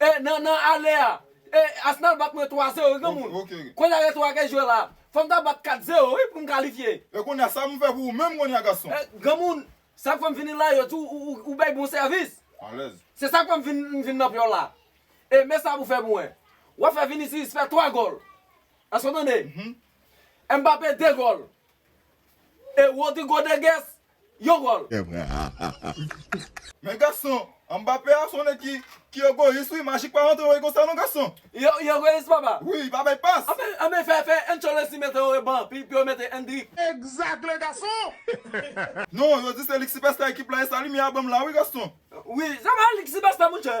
E nan nan ale a. E Arsenal bat mwen 3 zero wi granmoun. Konnya gen 3 k'ap jwe la. Fòm ta bat 4 zero wi pou'm kalifye. E konnya sa m'fè pou ou menm konnya gason. E granmoun Sak fèm vini la yo di ou bay bon sèvis. Alèz. Se sak fèm vin nan pyol la. E men sa pou fè pou mwen. Wap fè Vinicius fè 3 gòl. Èske ou tande? Mbappé 2 gòl. E Rodrigo de Guess Yon gòl! Men gason, Mbappé a son nèg ki ki egoyis wi, Magic pa rantre woy konsa non gason. Yo yo egoyis papa. Wi, li pa bay pas. Anfen anfen fè fè Ancelotti mete yo reban pi pou yo mete Endrick. Exact le gason. Non, yo di se lik sipèsta ekip la e sa limyè a banm la wi gason. Wi, se pa lik sipèsta monchè.